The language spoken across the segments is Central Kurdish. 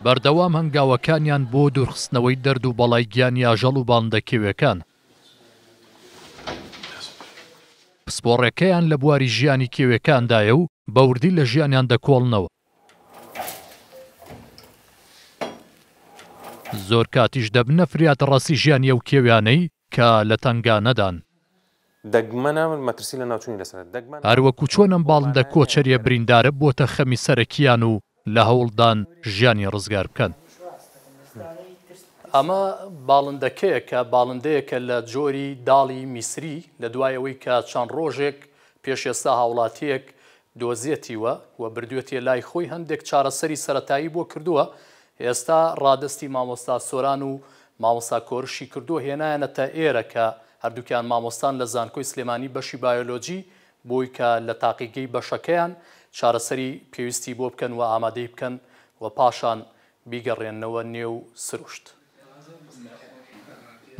بەردەوام هەنگاوەکانیان بۆ دوورخستنەوەی دەرد و بەڵای گیانی ئاژەڵ و باندە کێویەکان. پسپۆڕێکەیان لە بواری ژیانی کێوێکاندایە و بە وردی لە ژیانیان دەکۆڵنەوە. زۆر کاتیش دەبنە فریادڕەسی ژیانی ئەو کێویانەی کە لە تەنگانەدان. دەگمەنە مەترسی لەناوچوونی لەسەرە. هەروەکو چۆن ئەم باڵندە کۆچەریە بریندارە بۆتە خەمی سەرەکییان و لە هەوڵدان ژیانی ڕزگار بکەن. ئەمە باڵندەکەیە کە باڵندەیەکە لە جۆری داڵی میسری لە دوای ئەوەی کە چەند ڕۆژێک پێش ئێستا هاوڵاتییەک دۆزیەتیوە و بردوێتیە لای خۆی هەندێک چارەسەری سەرەتایی بۆ کردووە ئێستا ڕادەستی مامۆستا سۆران و مامۆستا کۆرشی کردووە هێنایانەتە ئێرە کە هەردووکیان مامۆستان لە زانکۆی سلێمانی بەشی بایۆلۆجی بۆی کە لە تاقیگەی بەشەکەیان چارەسەری پێویستی بۆ بکەن و ئامادەی بکەن و پاشان بیگەڕێننەوە نێو سروشت.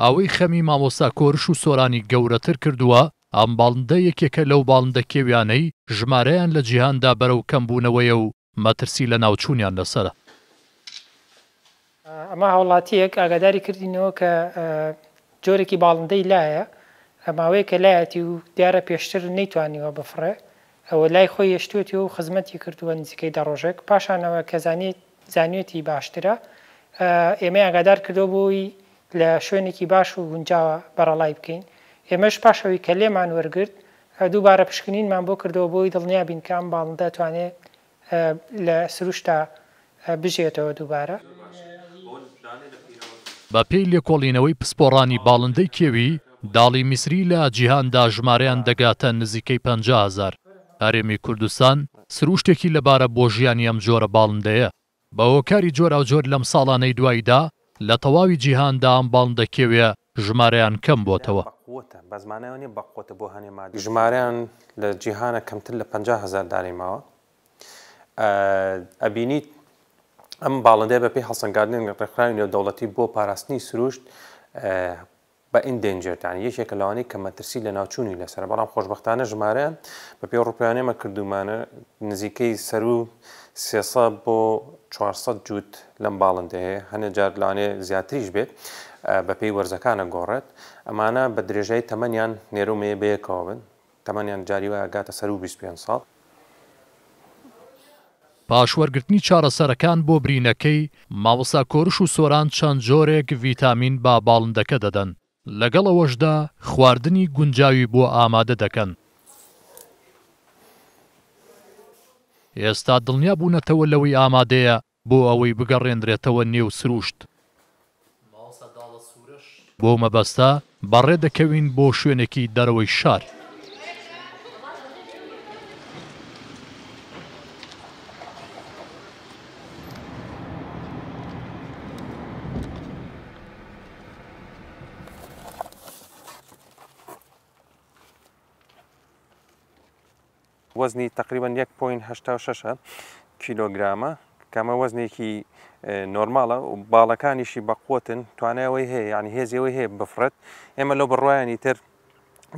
ئەوەی خەمی مامۆستا کۆرش و سۆرانی گەورەتر کردووە ئەم باڵندە یەکێکە لەو باڵندە کێویانەی ژمارەیان لە جیهاندا بەرەو کەمبوونەوەیە و مەترسی لەناوچوونیان لەسەرە. ئەمە هاوڵاتییەک ئاگاداری کردینەوە کە جۆرێکی باڵندەی لایە ماوەیەکە لایەتی و دیارە پێشتر نەیتوانیوە بفڕێ و لای خۆی هێشتووەتی و خزمەتی کردووە نزیکەی دە ڕۆژێک پاشانەوە کە زانیوێتی باشترە ئێمەی ئاگادار کردەوە بۆی لە شوێنێکی باش و گونجاوە بەرەڵای بکەین. ئێمەش پاش ئەوەی کە لێمان وەرگرت، دووبارە پشکنینمان بۆ کردەوە بۆ ئەوەی دڵنیا بین کە ئەم باڵندە دەتوانێت لە سروشتدا بژیێتەوە دووبارە. بە پێی لێکۆڵینەوەی پسپۆڕانی باڵندەی کێوی داڵی میسری لە جیهاندا ژمارەیان دەگاتە نزیکەی پەنجا هەزار. هەرێمی کوردستان سروشتێکی لەبارە بۆ ژیانی ئەم جۆرە باڵندەیە. بە هۆکاری جۆراوجۆر لەم ساڵانەی دواییدا لە تەواوی جیهاندا ئەم باڵندە کێویە ژمارەیان کەم بۆتەوە. ژمارەیان لە جیهانا کەمتر لە پەنجا هەزار دانەی ماوە. ئەبینیت ئەم باڵندەیە بەپێی هەڵسەنگاندنی ڕێکخراوی نێودەوڵەتی بۆ پاراستنی سروشت بە Endangered یانی یەکێکە لەوانەی کە مەترسی لەناوچوونی لەسەرە بەڵام خۆشبەختانە ژمارە بە پێی ڕوپیانی ئێمە کردوومانە نزیکەی سەروو سێ سەد بۆ چوار سەد جووت لەم باڵندەیە هەیە هەنێ جار لەوانەیە زیاتریش بێت بە پێی وەرزەکان ئەگۆڕێت ئەمانە بە درێژای تەمەنیان نێرەو مێیە بەیەکەوە بن تەمەنیان جاری وایە گاتە سەروو بیست پێنج ساڵ. پاش وەرگرتنی چارەسەرەکان بۆ برینەکەی، مامۆستا کۆرش و سۆران چەند جۆرێک ڤیتامین بە باڵندەکە دەدەن، لەگەڵ ئەوەشدا خواردنی گونجاوی بۆ ئامادە دەکەن. ئێستا دڵنیا بوونەتەوە لەوەی ئامادەیە بۆ ئەوەی بگەڕێنرێتەوە نێو سرووشت. بەو مەبەستە بەڕێ دەکەوین بۆ شوێنێکی دەرەوەی شار. وەزنی تەقریبەن یەک پۆینت هەشتا و شەش کیلۆگرامە کە ئەمە وەزنێکی نۆرماڵە و باڵەکانیشی بەقوتن توانایەوەی هەیە یعنی هێزیەوەی هەیە بفرەت ئێمە لەو بڕواایانی تر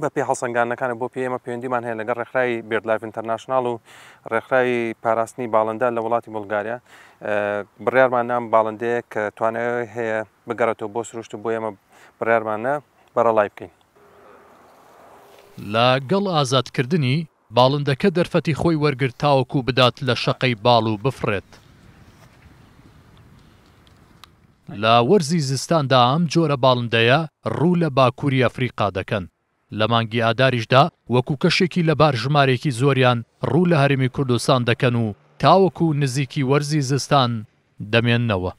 بە پێ هەڵسەنگانەکانە بۆ پێمە پەیوەندیمان هەیە لەگە ڕێکخراوی بردلایف ئینتەرناشنناڵ و ڕێکخراوی پاراستنی باڵندە لە وڵاتی بولگاریا بڕارمان نام باڵندەیە کە توانای هەیە بگەڕێتەوە بۆ سروشت و بۆ ئێمە بڕارمانە بەرەڵای بکەین لە گەڵ ئازاد کردنی، باڵندەکە دەرفەتی خۆی وەرگرت تاوەکو بدات لە شەقەی باڵ و بفڕێت. لە وەرزی زستاندا ئەم جۆرە باڵندەیە ڕوو لە باکووری ئەفریقا دەکەن. لە مانگی ئاداریشدا وەکو کەشێکی لەبار ژمارەیەکی زۆریان ڕوو لە هەرێمی کوردستان دەکەن و تاوەکو نزیکی وەرزی زستان دەمێننەوە.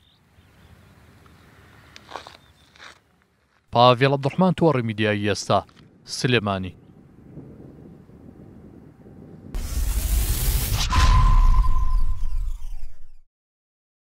پاڤێڵ عەبدوڕەحمان تۆڕی میدیایی ئێستا، سلێمانی.